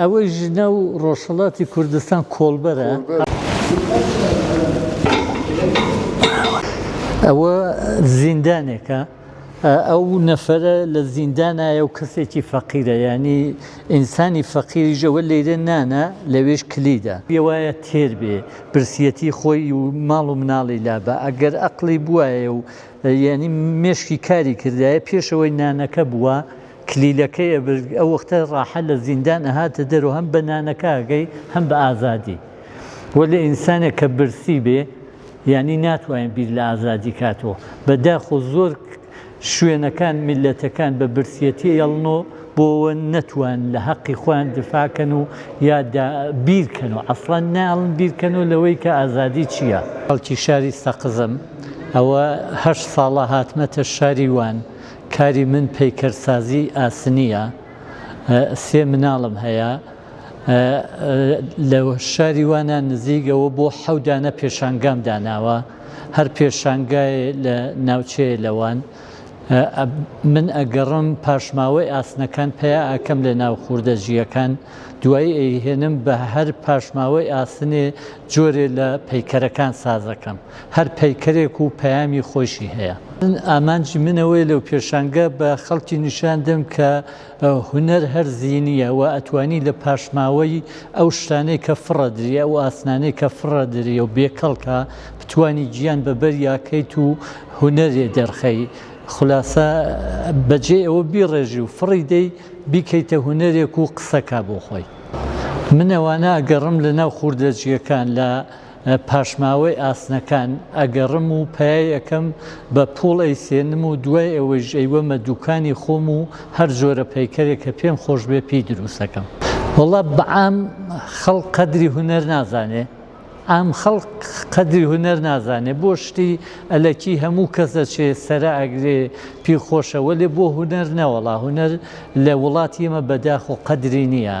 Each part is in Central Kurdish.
ئەوەی ژنە و ڕۆژهەڵاتی کوردستان کۆڵبەرە. ئەوە زیندانێکە ئەو نەفەرە لە زیندانایە و کەسێکی فەقیرە یانی ئینسانی فەقیریش ئەوە لێرە نانە لەوێش کلیدە. پێوایە تێر بێ برسیەتی خۆی و ماڵ و مناڵی لابا ئەگەر ئەقڵی بوایە و یانی مێشکی کاری کردایە پێشەوەی نانەکە بووە. کلیلەکەی ئەبرد ئەو وەختە ڕاحە لە زیندان ئەهاتە دەرو هەم بە نانەکە ئەگەی هەم بە ئازادی وەلێ ئینسانێک کە برسی بێ یانی ناتوانێت بیر لە ئازادی کاتەوە بەداخۆ زۆر شوێنەکان میللەتەکان بە برسیەتی ئێڵنۆ بۆوە نەتوان لە هەقی خۆیان دفاکەن و یا بیرکەن و ئەسڵەن ناڵن بیرکەن و لەوەی کە ئازادی چییە خەڵکی شاری سەقزم ئەوە هەشت ساڵە هاتمەتە شاری وان کاری من پەیکەرسازی ئاسنییە، سێ مناڵم هەیە، لە شاری وانە نزیک ئەوە بۆ حەوت دانە پێشانگام داناوە، هەر پێشانگایێ لە ناوچەیێ لە وان من ئەگەڕم پاشماوەی ئاسنەکان پەیا ئەکەم لە ناو خوردە جییەکان دوایی ئەیهێنم بە هەر پاشماوەی ئاسنێ جۆرێ لە پەیکەرەکان سازەکەم. هەر پەیکەرێک و پەیامی خۆیشی هەیە. من ئامانجی من ئەوەیە لەو پێشانگە بە خەڵکی نیشان دەم کە هونەر هەر زینییە و ئەتوانی لە پاشماوەی ئەو شتانەی کە فڕەدری، ئەو ئاسنانەی کە فڕەدری و بێ کەڵکە، بتوانی گیان بە بەریا کەیت و هونەرێ دەرخەی. خولاسە بە جێی ئەوە بیڕێژی و فڕی دەی، بیکەیتە هونەرێک و قسە کا بۆ خۆی. من ئەوانە ئەگەڕم لە ناو خوردەجییەکان، لە. پاشماوەی ئاسنەکان ئەگەڕم و پایەی ئەکەم بە پوڵ ئەیسێنم و دوای ئەوەیش ئەیوەمە دوکانی خۆم و هەر جۆرە پەیکەرێک کە پێم خۆش بێ پێی دروست ئەکەم. وەڵا بەعام خەڵک قەدری هونەر نازانێ عام خەڵک قەدری هونەر نازانێ بۆ شتی ئەلەکی هەموو کەس ئەچێ سەرا ئەگرێ پێی خۆشە وەلێ بۆ هونەر نەوەڵا هونەر لە وڵاتی ئێمە بەداخۆ قەدری نییە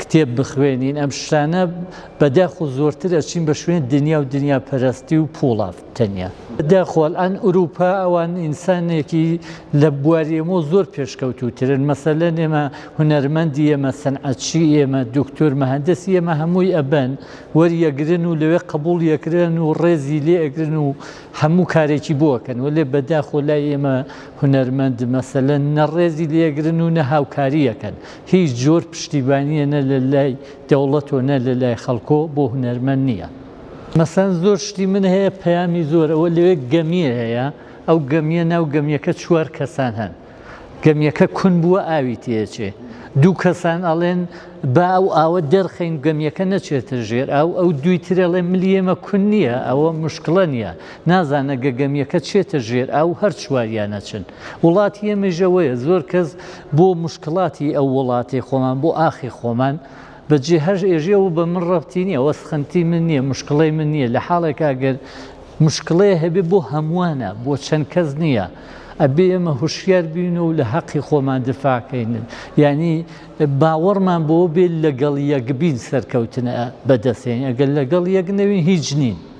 کتێب بخوێنین ئەم شتانە بەداخۆ زۆرتر ئەچین بە شوێن دنیا و دنیا پەرستی و پوڵا تەنیا بەداخۆل ئەن ئوروپا ئەوان ئینسانێکی لە بواری ئەمۆ زۆر پێشکەوتوترن مەسەلە نێمە هونەرمەندی ئێمە سەنعەتچی ئێمە دکتۆر مەهندسی ئێمە هەمووی ئەبەن وەریەگرن و لەوێ قبول یەکرێن و ڕێزی لێ ئەگرن و هەموو کارێکی بۆکەن و لێ بەداخۆ لای ئێمە هونەرمەند مەسەلە نەڕێزی لێگرن و نە هاوکاریەکەن هیچ جۆر پشتیبانیە نە لە لای دەوڵەت و نە لە لای خەڵکۆ بۆ هونەرمەند نیە مەسەن زۆر شتی من هەیە پەیامی زۆر ئەوە لەوێ گەمیە هەیە ئەو گەمیە ناو گەمیەکە چوار کەسان هەن گەمیەکە کون بووە ئاوی تێچێ دوو کەسان ئەڵێن با ئەو ئاوە دەرخەین گەمیەکە نەچێتە ژێر ئەو ئەو دوی ترەڵێ ملی ئێمە کون نییە ئەوە مشکڵە نییە نازانە گەگەمیەکە چێتە ژێر ئەو هەر چواریانەچن وڵاتی ئێمەژەوەیە زۆر کەس بۆ مشکڵاتی ئەو وڵاتێ خۆمان بۆ ئاخی خۆمان بە جێ هەش ئێژێ و بە من ڕەبتی نییە وە سخنتی من نییە مشکڵی من نییە لە حاڵێکا گەر مشکڵێ هەبێ بۆ هەمووانە بۆ چەند کەس نییە ئەبێ ئێمە هوشیار بین و لە حەقی خۆمان دفاعکەین ینی باوەڕمان بۆ بێت لەگەڵ یەکبین سەرکەوتنە بەدەستێن ئەگەر لەگەڵ یەک نەوین هیچ نین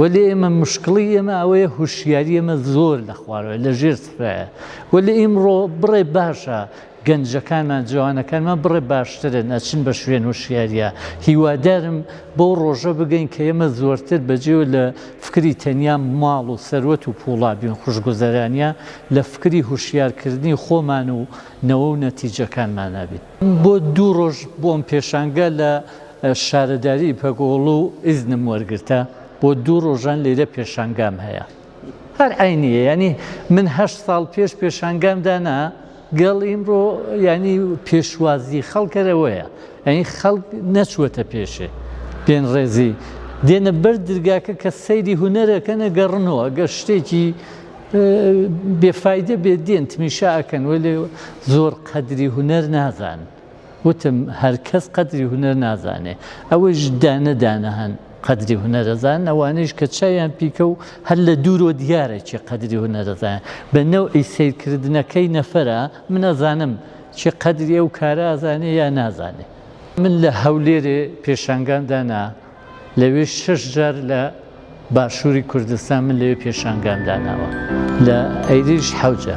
وەلێ ئێمە مشکڵی ئێمە ئەوەیە هوشیاری ئێمە زۆر لە خوارەوە لە ژێر سفرایە وەلێ ئیمڕۆ بڕێ باشە گەنجەکانمان جوانەکانمان بڕێ باشترن ئەچن بە شوێن و شیاریە هیوادارم بۆ ڕۆژە بگەین کە ئێمە زۆرتر بەجێو لە فکری تەنیا ماڵ و سەروەت و پوڵابیون خوشگوزەرانە لە فکری هوشیارکردنی خۆمان و نەوە و نەتیجەکانمانابیت بۆ دوو ڕۆژ بۆم پێشانگە لە شارەداری پەکۆڵو ئیزنم وەرگرتە بۆ دوو ڕۆژان لێرە پێشانگام هەیە هەر عەینیە یانی من هەشت ساڵ پێش پێشانگام دانا گەڵ ئیمڕۆ یانی پێشوازی خەڵکەرەوەیە ئەین خەڵک نەچووەتە پێشێ پێن ڕێزی دێنە بەر درگاکە کە سەیری هوەرەکەنە گەڕنەوە گە شتێکی بێفاایدە بێ دێن تمیشا ئەکەن وەێ زۆر قەدری هوەر نازان وتم هەر کەس قەدری هونەر نازانێ ئەوەیش دانە دانە هەن قەدری هونەرەزان ئەوانەیش کە چاویان پیکە و هەر لە دوورۆ دیارە چی قەدری هونەرەزان بە نەوعی سەیرکردنەکەی نەفەرە من ئەزانم چی قەدری ئەو کارە ئازانێ یا نازانێ من لە هەولێرێ پێشانگام دانا لەوێ شەش جار لە باشووری کوردستان من لەوێ پێشانگام داناوە لە ئەیریش حەوجە.